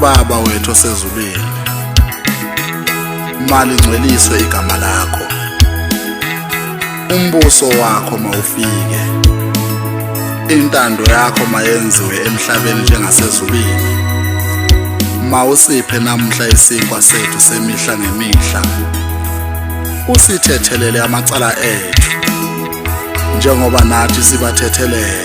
baba wethu osezulwini malingcweliswe igama lakho umbuso wakho mawufike intando yakho mayenziwe emhlabeni njengasezulwini mawusiphe namuhla isinkwa sethu semihla ngemihla usithethelele amacala ethu njengoba nathi sibathethelela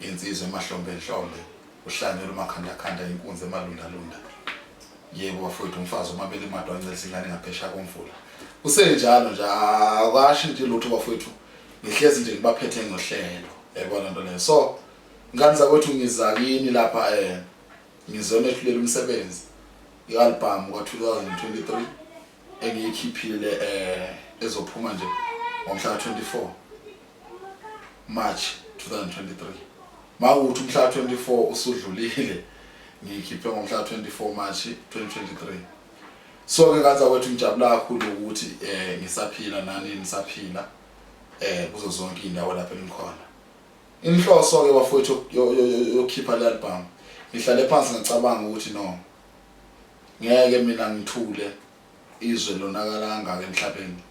Insizwa emahlombe nhlombe, uhlanyela umakhandakhanda inkunzi emalundalunda. Yebo bafowethu, umfazi omabili imadwa ancelisa ingane ngaphesha komfula. Kusenjalo nje, akashi nje lutho bafowethu. Ngihlezi nje ngibaphethe ngohlelo. Yayibona nto leyo. So, ngani zakwethu ngiza kini lapha eh ngizonethulela umsebenzi i-albhamu ka-2023 engiyikhiphile eh ezophuma nje ngomhla 24 March 2023 mawuthi umhla 24 usudlulile ngiyikhiphe ngomhla 24 March 2023 so ke kaza kwethu ngijabula kakhulu ukuthi eh ngisaphila nani nisaphila eh kuzo zonke indawo lapho engikhona inhloso ke bafowethu yokhipha le album ngihlale phansi ngicabanga ukuthi no ngeke mina ngithule izwe lonakala kangaka emhlabeni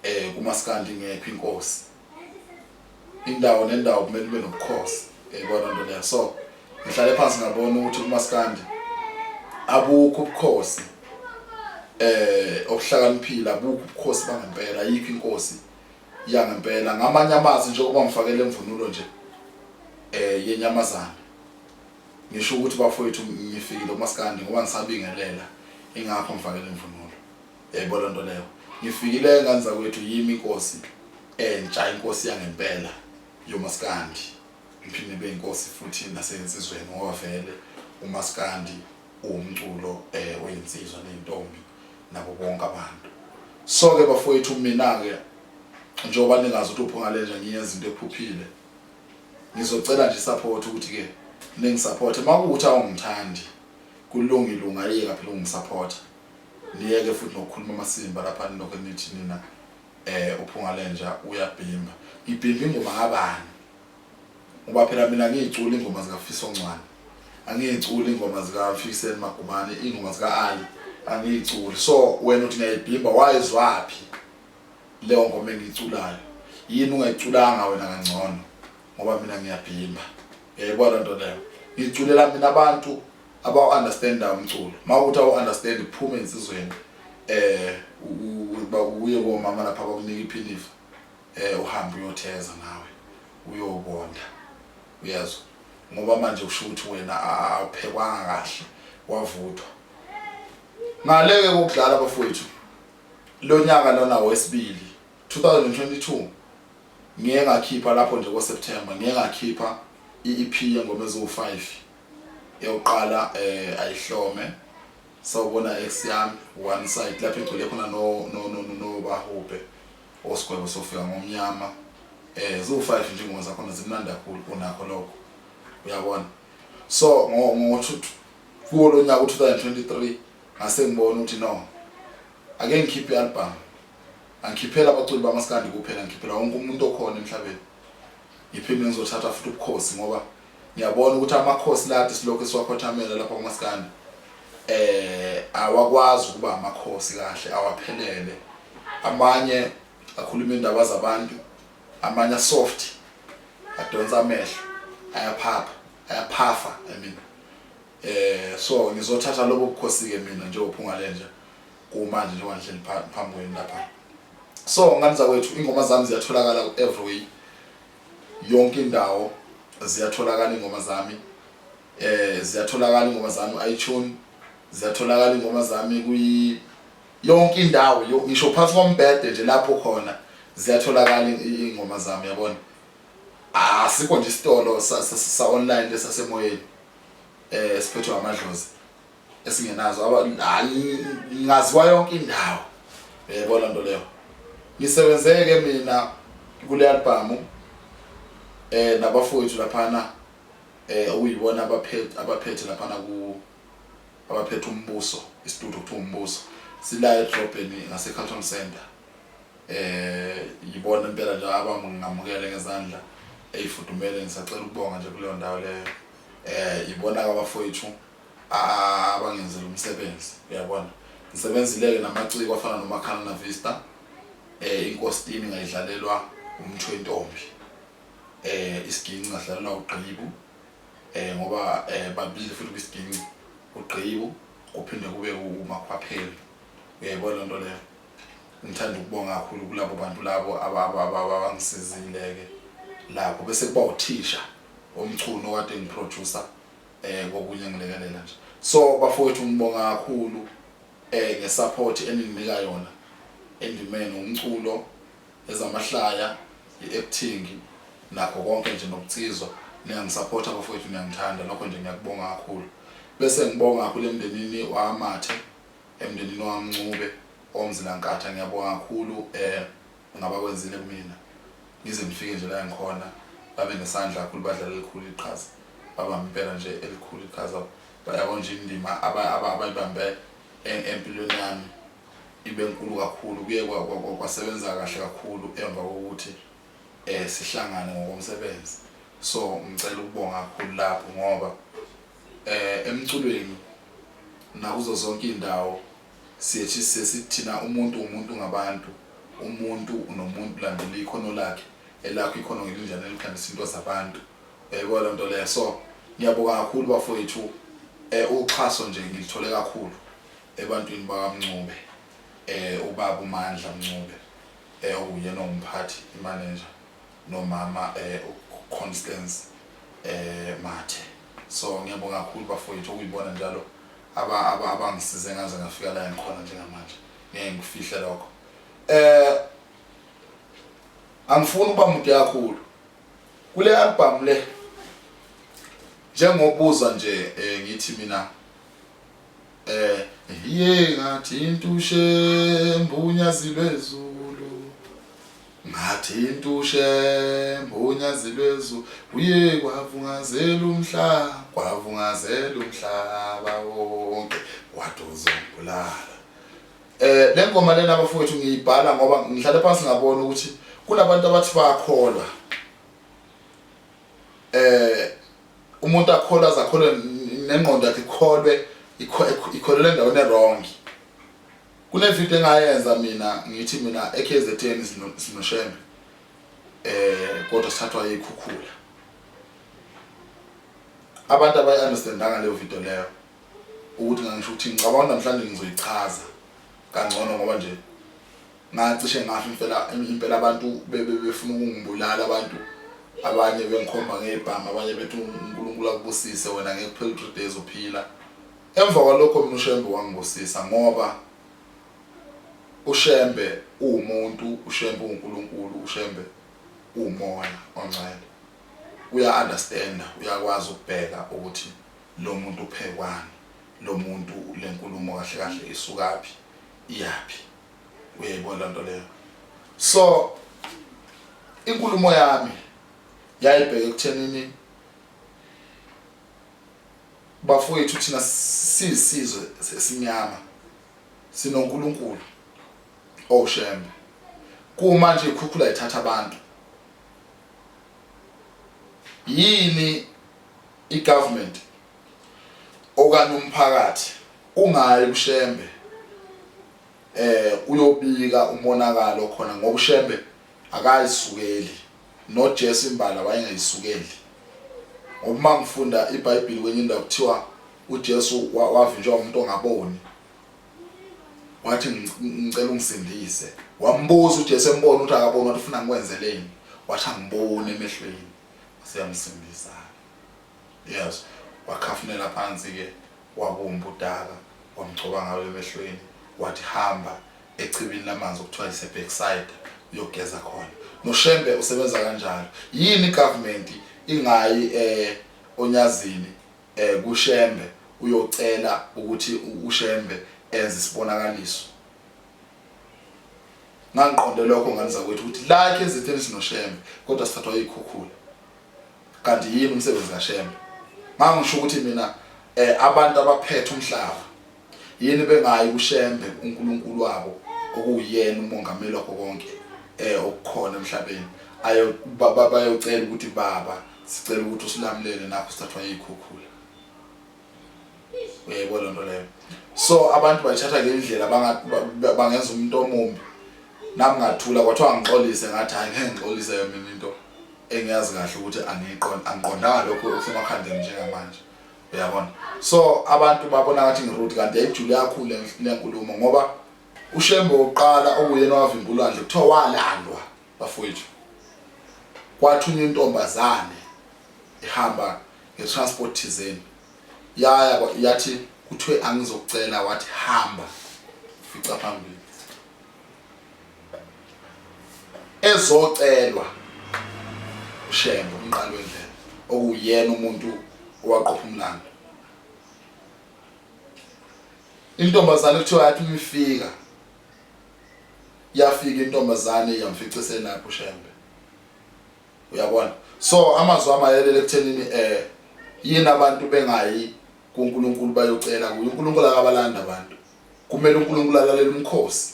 eh kumaskandi ngekho inkosi indawo nendawo kumele kube nobukhosi yayibona nto leyo so ngihlale phansi ngabona ukuthi kumaskandi abukho ubukhosi eh obuhlakaniphile abukho ubukhosi bangempela yikho inkosi yangempela ngamanye amazi njengoba ngifakele imvunulo nje eh yenyamazana Ngisho ukuthi bafowethu ngifikile kumaskandi ngoba ngisabingelela ingakho ngifakele imvunulo. Yayibona lento leyo. Ngifikile ngane zakwethu yimi inkosi entsha inkosi yangempela yomaskandi. Ngiphinde be inkosi futhi nasensizweni ngoba vele umaskandi uwumculo eh weyinsizwa nentombi nabo bonke abantu. So ke bafowethu mina ke njengoba ningazi ukuthi uphunga lenja ngiyenza into ephuphile ngizocela nje support ukuthi ke ningisupport makuthi awungithandi kulungile ungayeka phela ungisupport niyeke futhi nokukhuluma amasimba lapha nilokho nithi nina eh uphunga lenja uyabhimba ngibhimba ingoma kabani ngoba phela mina ngiyicula ingoma zikafiso ncwane angiyiculi ingoma zikafikiseni magumane ingoma zika-ali angiyiculi so wena uthi ngiyayibhimba wayizwaphi leyo ngoma engiyiculayo yini ungayiculanga wena kangcono ngoba mina ngiyabhimba yayibona eh, loo nto leyo ngiculela mina abantu abawu-understanda umculo ma ukuthi awu-understand kuphume ensizweni um uba uye komama lapha bakunika iphinifa um eh, uhambe uyotheza nawe uyobonda uyezwa ngoba manje kusho ukuthi wena awuphekwanga kahle wavuthwa ngaleke kokudlala bafowethu Lonyaka lona wesibili 2022 ngiye ngakhipha lapho nje ko September ngiye ngakhipha i-EP yengoma eziwu-5 eyokuqala eh ayihlome sawubona ex yami one side lapho igcwele khona no no no no bahubhe osigwebo sofika ngomnyama eh ziwu-5 nje ingoma zakhona zimnandi kakhulu kunakho lokho uyabona so ngo kuwo lo nyaka u-2023 ngase ngibona ukuthi no ake ngikhiphe i-album angikhiphela abaculi bamaskandi kuphela ngikhiphela wonke umuntu okhona emhlabeni ngiphinde ngizothatha futhi ubukhosi ngoba ngiyabona ukuthi amakhosi lade silokhu esiwakhothamela lapha kumaskandi eh awakwazi ukuba amakhosi kahle awaphelele amanye akhuluma indaba zabantu amanye asoft adonsa amehlo ayaphapha ayaphafa i mean eh so ngizothatha lobo bukhosi ke mina njengophunga lenja kumanje njengoba ngihleli phambi kwenu lapha so ngani zakwethu ingoma zami ziyatholakala ku everywhere yonke indawo ziyatholakala ingoma zami eh ziyatholakala ingoma zami iTunes ziyatholakala ingoma zami kwi yonke indawo yo- ngisho phansi kombhede nje lapho khona ziyatholakala i- i- iy'ngoma zami yabona asikho nje isitolo sa- sa- sa-online lesasemoyeni um siphethwe amadlozi esingenazo Aba- ah, ng- ngaziwa yonke indawo yebo loo nto leyo ngisebenzeke mina kule albhamu um nabafowethu laphana um okuyibona abaphethe abaphethe laphana ku abaphethe umbuso isitudio kuthiwa umbuso sila edrobheni ngasecarton center eh yibona impela nje abangamukele ngezandla eyifudumele ngisacela ukubonga nje kuleyo ndawo leyo eh yibona abafowethu abangenzela umsebenzi uyabona ngisebenzileke namaciko afana nomakhana na vista eh inkositini ngayidlalelwa umthwentombi eh isiginci ngadlalelwa ugqibu eh ngoba eh babili futhi kwisigingci ugqibu kuphinde kube umakhwapheli uyayibona lento leyo ngithanda ukubonga kakhulu kulabo bantu labo abangisizile-ke lapho bese kuba uthisha omchunu kade ngiproducer eh kokunye ngilekelela nje so bafowethu ngibonga kakhulu eh ngesupport eninginika yona endimeni umculo ezamahlaya i-acting nakho konke nje nokucizwa niyangisapotha bafowethu niyangithanda lokho nje ngiyakubonga kakhulu bese ngibonga kakhulu emndenini wamathe emndenini wamncube omzilankatha ngiyabonga kakhulu um eh, ngaba kwenzile kumina ngize ngifike nje la ngikhona babe nesandla kakhulu badlala elikhulu iqhaza babambe impela nje elikhulu iqhaza bayabona nje indima abayibambe empilweni yami ibe nkulu kakhulu kuye kwasebenza kahle kakhulu emva kokuthi eh sihlangane ngokomsebenzi so ngicela ukubonga kakhulu lapho ngoba eh emculweni nakuzo zonke indawo siyethi sesithina umuntu umuntu ngabantu umuntu unomuntu landela ikhono lakhe elakho ikhono ngelinjani elikhambisa into zabantu yayibona eh, loo nto leyo so ngiyabonga kakhulu bafowethu um uxhaso nje ngilithole kakhulu ebantwini bakaMncube um ubaba uMandla Mncube um okuyena ongumphathi imanenja nomama um uConstance um Mathe so ngiyabonga kakhulu bafowethu okuyibona njalo aba- aba- abangisize ngaze ngafika la engikhona njengamanje ngeke ngikufihle lokho um angifuni ukuba mude kakhulu kule albhamu le njengobuza nje um ngithi mina Eh iye ngathinta uShembe unyazi lwezulu ngathinta uShembe unyazi lwezulu uye kwavungazela umhlaba kwavungazela umhlaba wonke wathi uzongibulala eh le ngoma lena bafowethu ngiyibhala ngoba ngihlale phansi ngabona ukuthi kunabantu abathi bayakholwa eh umuntu akholwa zakholwe nengqondo yakhe ikholwe ikholele endaweni ewrong kunevidiyo engayenza mina ngithi mina eKZN sinoshembe eh kodwa sithathwa yikhukhula abantu abayi understandanga leyo video leyo ukuthi ngangisho ukuthi ngicabanga namhlanje ngizoyichaza kangcono ngoba nje ngacishe ngafa impela impela abantu bebefuna ukungibulala abantu abanye bengikhomba ngebhanga abanye bethi uNkulunkulu akubusise wena ngeke kuphele 3 days uphila emva kwalokho mina uShembe wangibusisa ngoba uShembe uwumuntu uShembe uNkulunkulu uShembe umoya ongcwele uya understand uyakwazi ukubheka ukuthi lo muntu uphekwani lo muntu lenkulumo kahle kahle isukaphi iyaphi uyayibona laa nto leyo so inkulumo yami yayibheke ekuthenini bafowethu thina siyisizwe sesimnyama sinonkulunkulu owushembe kuma nje ikhukhula ithatha abantu yini i-government okanye umphakathi ungayi kushembe uyobika umonakalo okhona ngoba uShembe akayisukeli noJesu imbala wayengayisukeli ngoba uma ngifunda iBhayibheli kwenye indawo kuthiwa uJesu wavinjwa umuntu ongaboni wathi ngicela ungisindise wambuza uJesu embona ukuthi akaboni wathi ufuna ngikwenzeleni wathi angibone emehlweni waseyamsindisa yes wakhafunela phansi ke Wabumba udaka, wamgcoba ngalo emehlweni, wathi, Hamba echibini lamanzi okuthiwa yiseBekside uyogeza khona. NoShembe usebenza kanjalo. Yini iGovernment ingayi e, oNyazini e, kuShembe uyocela ukuthi uShembe enze isibonakaliso? ngangiqonde lokho ngane zakwethu ukuthi like ezitheni sinoshembe kodwa sithathwa yikhukhula kanti yini umsebenzi kashembe ngangisho ukuthi mina eh abantu abaphethe umhlaba yini bengayi kushembe uNkulunkulu wabo okuyena umongameli wakho konke eh okukhona emhlabeni ayo baba bayocela ukuthi baba sicela ukuthi usilamulele nakho sithathwa yikhukhula uyayibona loo nto leyo so abantu bayithatha ngendlela bangenza umuntu omumbi nami ngathula kwathiwa ngixolise ngathi hhayi ngeke ngixolise yona into engiyazi kahle ukuthi angiqondanga lokho okusemakhandeni njengamanje uyabona so abantu babona ngathi ngirude kanti yayijule yakhulu le nkulumo ngoba ushembe wokuqala okuyena owavimba ulwandle kuthiwa walandwa Bafowethu, kwathunywa intombazane ihamba nge-transport thizeni yaya kwa- yathi kuthiwe angizokucela wathi hamba fica phambili ezocelwa ushembe umqali wendlela okuwuyena umuntu owaqopha umlando intombazane kuthiwa yathi uma ifika yafika intombazane yamfica eselapho uShembe uyabona so amazwi amayelele ekuthenini eh yini abantu bengayi kuNkulunkulu bayocela kuye uNkulunkulu akabalanda abantu kumele uNkulunkulu alalele umkhosi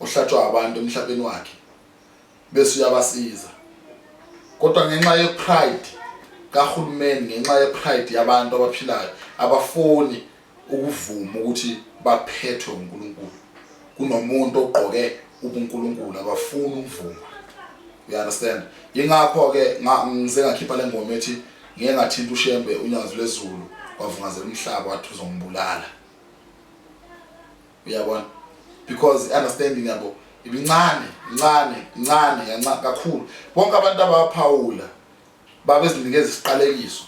ohlatshwa abantu emhlabeni wakhe bese uyabasiza kodwa ngenxa ye pride kahulumeni ngenxa ye pride yabantu abaphilayo abafuni ukuvuma ukuthi baphethwe uNkulunkulu kunomuntu ogqoke ubuNkulunkulu abafuni ukuvuma you understand ingakho ke ngize ngakhipha lengoma ethi ngeke ngathinta uShembe unyazi lwezulu wavungazela umhlaba wathi uzombulala uyabona because understanding yabo ibincane incane incane yanca kakhulu bonke abantu abaphawula Babezinikeza isiqalekiso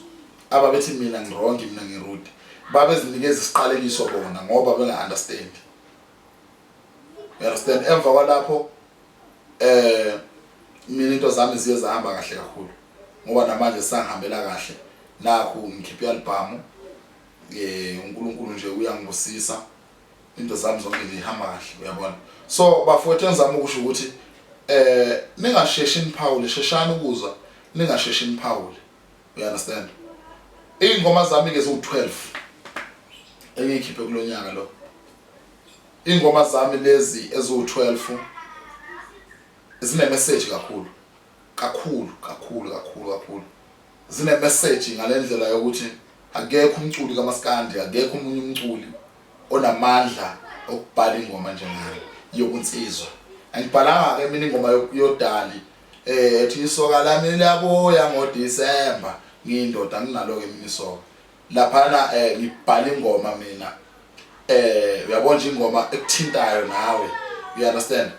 ababethi mina ngirongi mina ngirude. Babezinikeza isiqalekiso bona ngoba benga understand. You understand? Emva kwalapho eh mina into zami ziye zahamba kahle kakhulu ngoba namanje sangihambela kahle nakhu ngikhipha i-album eh uNkulunkulu nje uyangibusisa into zami zonke ngihamba kahle uyabona so bafowethu engizama ukusho ukuthi eh ningasheshi niphawule sheshani ukuzwa ningasheshi niphawule you understand ingoma zami ke ziwu12 engikhiphe kulonyaka lo ingoma zami lezi eziwu12 zine message kakhulu kakhulu kakhulu kakhulu kakhulu zinemeseji ngalendlela yokuthi akekho umculi kamaskandi akekho umunye umculi onamandla okubhala ingoma njengale yokunsizwa angibhalanga ke mina ingoma yodali eh ethi isoka lami liyabuya ngo December ngiyindoda nginalo ke mina isoka laphana eh ngibhala ingoma mina eh uyabona nje ingoma ekuthintayo nawe you understand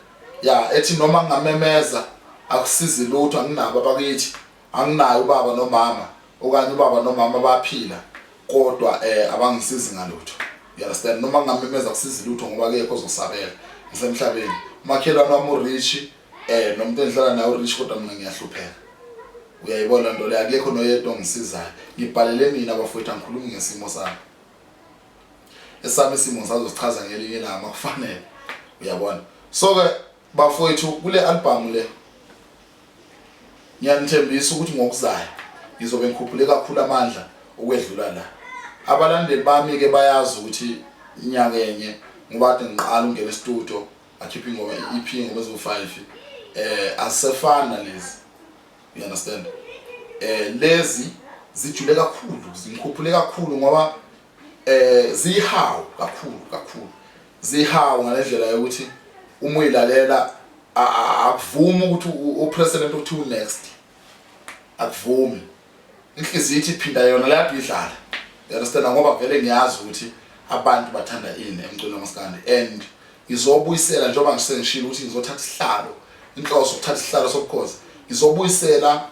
ya ethi noma ngamemeza akusizi lutho anginabo abakithi Anginaye ubaba nomama okanye ubaba nomama baphila kodwa eh abangisizi ngalutho. You understand? Noma ngamemeza kusizi lutho ngoba kekho ozosabela ngisemhlabeni. Umakhelwane wami urich eh nomuntu engihlala naye urich kodwa mina ngiyahlupheka. Uyayibona lento le akekho noyedwa ongisizayo. Ngibhalele mina bafowethu angikhulumi ngesimo sami. Esami isimo sazosichaza ngelinye ilanga makufanele. Uyabona? So ke Bafowethu kule albhamu le ngiyanithembisa ukuthi ngokuzayo ngizobe ngikhuphule kakhulu amandla ukwedlula la. Abalandeli bami ke bayazi ukuthi inyanga enye ngibade ngiqala ungena estudio akhiphe ingoma i-EP ingoma eziwu-5 eh asefana lezi. You understand? Eh lezi zijule kakhulu, zingikhuphule kakhulu ngoba eh zihawu kakhulu kakhulu zihawu ngalendlela yokuthi uma uyilalela akuvumi ukuthi upresident uthi unext akuvumi inhliziyo ithi phinda yona lapho idlala you understand ngoba vele ngiyazi ukuthi abantu bathanda ini emculo kaMaskandi and izobuyisela njengoba ngisengishilo ukuthi ngizothatha isihlalo inhloso ukuthatha isihlalo sobukhosi izobuyisela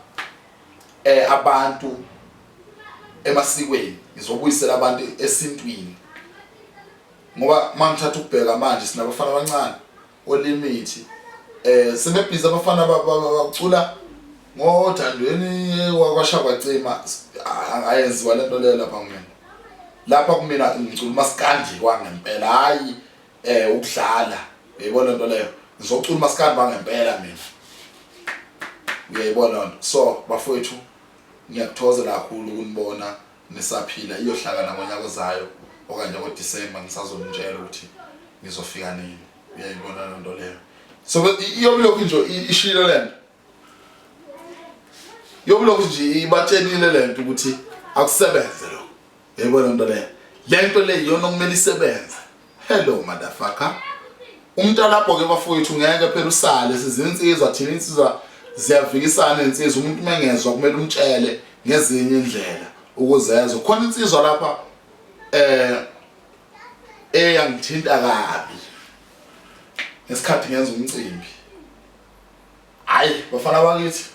eh abantu emasikweni ngizobuyisela abantu esintwini ngoba mangithatha ukubheka manje sinabafana abancane olimithi eh sebebhiza abafana bacula ngothandweni wakwashabacima ayenziwa lento leyo lapha kumina lapha kumina ngicula umaskandi kwangempela hayi eh ukudlala uyayibona into leyo ngizocula umaskandi bangempela mina uyayibona lento so bafowethu ngiyakuthozela kakhulu ukunibona nisaphila iyohlakana ngonyaka ozayo okanye ngoDisemba ngisazonitshela ukuthi ngizofika nini uyayibona lento leyo so iyomlokhu nje ishilo lento yokulokhu nje ibatshenile le nto ukuthi akusebenze lo yayibona nto leyo le nto le yiyona okumele isebenze hello madafaka umuntu alapho-ke bafowethu ngeke phela usale sizinsizwa thina insizwa ziyavikisana insizwa umuntu uma engezwa kumele umtshele ngezinye indlela ukuze ezwe khona insizwa lapha eh eyangithinta kabi ngesikhathi ngenza umcimbi Hayi bafana bakithi.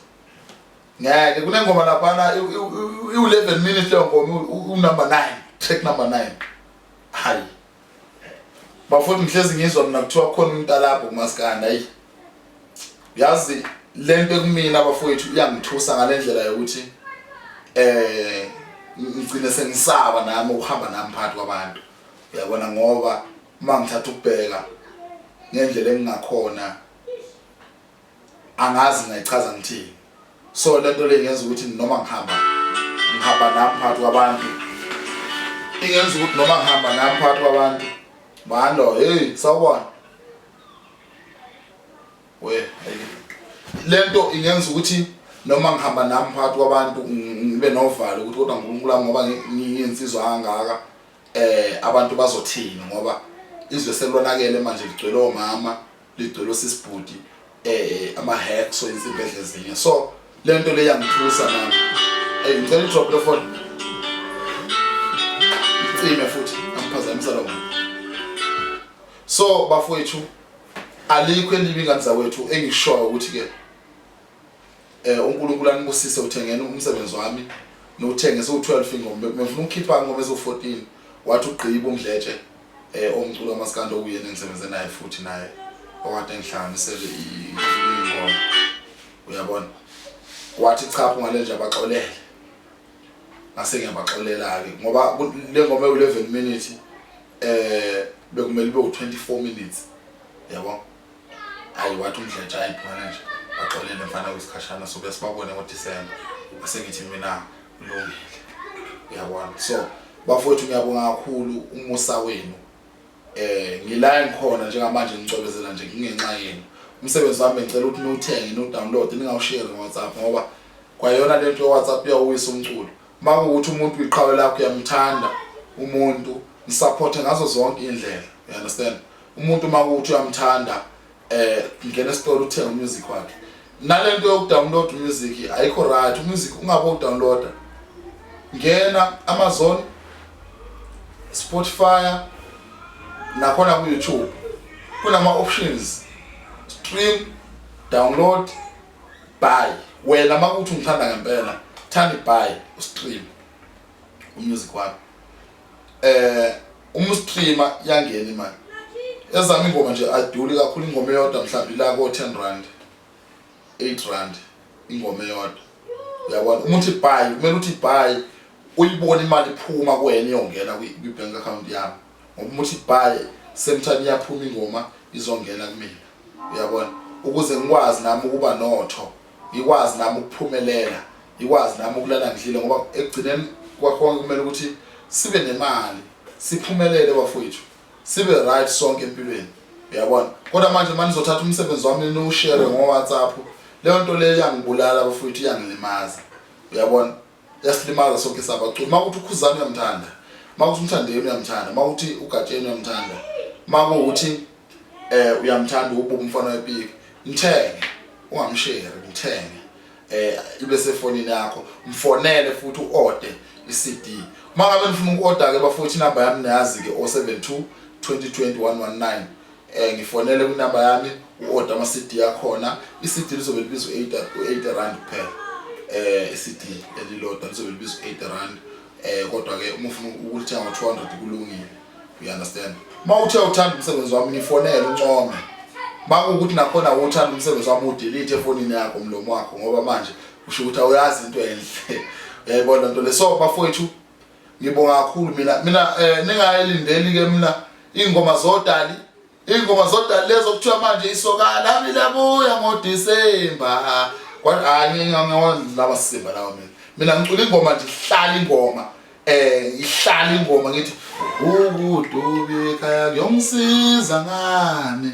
Ngeke kunengoma laphana iwu-11 minutes leyo ngoma unumber 9 track number 9 hayi bafuthi ngihlezi ngizwa mina kuthiwa khona umuntu alapho kumaskanda ayi yazi le nto ekumina bafowethu iyangithusa ngale ndlela yokuthi eh ngigcine sengisaba nami ukuhamba nami phakathi kwabantu uyabona ngoba uma ngithatha ukubheka ngendlela engingakhona angazi ngayichaza ngithini so lento le ngenza ukuthi noma ngihamba ngihamba nami phakathi kwabantu ingenza ukuthi noma ngihamba nami phakathi kwabantu mando hey sawubona we lento ingenza ukuthi noma ngihamba nami phakathi kwabantu ngibe novalo ukuthi kodwa uNkulunkulu wami ngoba ngiyensizwa kangaka eh abantu bazothini ngoba izwe selonakele manje ligcwele omama ligcwele osisi bhuti eh ama hacks so izimpedle ezinye so lento le yangithusa nami hey ngicela drop the phone icime futhi angiphazamisa lo so bafowethu alikho elibi ngani zawethu engishoyo ukuthi ke Eh uNkulunkulu anibusise uthengene umsebenzi wami nowuthenge so12 ingoma bengifuna ukukhipha ingoma ezo14 wathi ugqiba umdletshe eh omculo wamaskando kuyena engisebenze naye futhi naye okade engihlanganisele ingoma uyabona wathi cha ungale nje abaxolele ngase ngiyabaxolela ke ngoba le ngoma ewu11 minutes eh bekumele ibe u24 minutes yabo Hayi wathi uMdletshe hayi phumela nje baxolele mfana wesikhashana so besibabone ngoDisemba bese ngithi mina kulungile uyabona so bafowethu ngiyabonga kakhulu umusa wenu eh ngila engikhona njengamanje ngicobezela nje ngingenxa yenu umsebenzi wami ngicela ukuthi niwuthenge niwudownload ningawushare ngoWhatsApp ngoba kwayona lento yoWhatsApp iyawuwisa umculo Makuwukuthi umuntu uyiqhawe lakho uyamthanda umuntu msupporte ngazo zonke indlela. You understand? Umuntu makuwukuthi uyamthanda eh ngena esitolo uthenga umusic wakhe. Nalento yokudownload music ayikho right. Umusic ungabe udownloada. Ngena Amazon Spotify nakhona ku YouTube kunama options stream download Bye. Wena makuthi ungithanda ngempela, thandi bye ustream umusic wakho. Eh umstreamer yangena imali. Ezami ingoma nje aduli kakhulu ingoma eyodwa mhlawumbe la ko 10 rand. 8 rand ingoma eyodwa. Uyabona uma uthi bye kumele uthi bye uyibone imali iphuma kuwena iyongena kwi bank account yakho. ngoba uma uthi bye same time iyaphuma ingoma izongena kumina uyabona ukuze ngikwazi nami ukuba notho ngikwazi nami ukuphumelela ngikwazi nami ukulala ngidlile ngoba ekugcineni kwakhona kumele ukuthi sibe nemali siphumelele bafowethu sibe right sonke empilweni uyabona kodwa manje manje ngizothatha umsebenzi wami niwushare ngo-whatsapp leyo nto leyo iyangibulala bafowethu iyangilimaza uyabona yasilimaza sonke sabaculi uma ukuthi ukhuzana uyamthanda uma ukuthi umthandeni uyamthanda uma ukuthi ugatsheni uyamthanda uma kuwukuthi eh uyamthanda ububu umfana wepiki mthenge ungamsheri mthenge eh ibe sefonini yakho mfonele futhi uorder iCD uma ngabe nifuna uku-order ke bafowethu inamba yami niyazi ke 072 2020 119 eh ngifonele kunamba yami uorder ama CD yakhona i CD lizobe libizwa 8 8 rand kuphela eh i CD elilodwa lizobe libizwa 8 rand eh kodwa ke uma ufuna ukulithenga ngo 200 kulungile you understand uma uthe uthanda umsebenzi wami ngifonele uncome makuwukuthi nakhona uthanda umsebenzi wami udelete efonini yakho umlomo wakho ngoba manje usho ukuthi awuyazi into enhle yayibona nto le so bafowethu Ngibonga kakhulu mina mina eh ningayilindeli ke mina ingoma zodali ingoma zodali lezo kuthiwa manje isokala mina buya ngo December kodwa hayi ngiyawondlaba simba lawo mina mina ngicula ingoma nje ihlala ingoma eh ihlala ingoma ngithi ukudubi ekhaya kuyongisiza ngani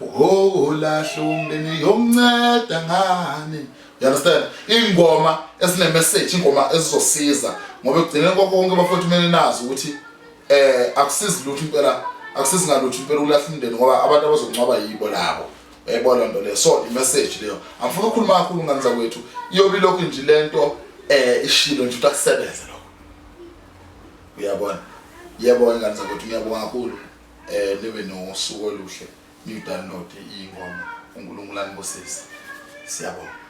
Oh lahle umndeni yomnceda ngani you understand ingoma esine message ingoma ezizosiza ngoba ekugcineni kwakho konke bafowethu kumele nazi ukuthi eh akusizi lutho impela akusizi ngalutho impela ulahla umndeni ngoba abantu abazoncwaba yibo labo yayibona nto leyo so imessage leyo angifuna ukukhuluma kakhulu ngani zakwethu iyobe ilokhu nje le nto eh ishilo nje ukuthi akusebenze lokho uyabona yebo ingane zakwethu ngiyabonga kakhulu eh nibe nosuku oluhle new download ingoma uNkulunkulu anibusise siyabonga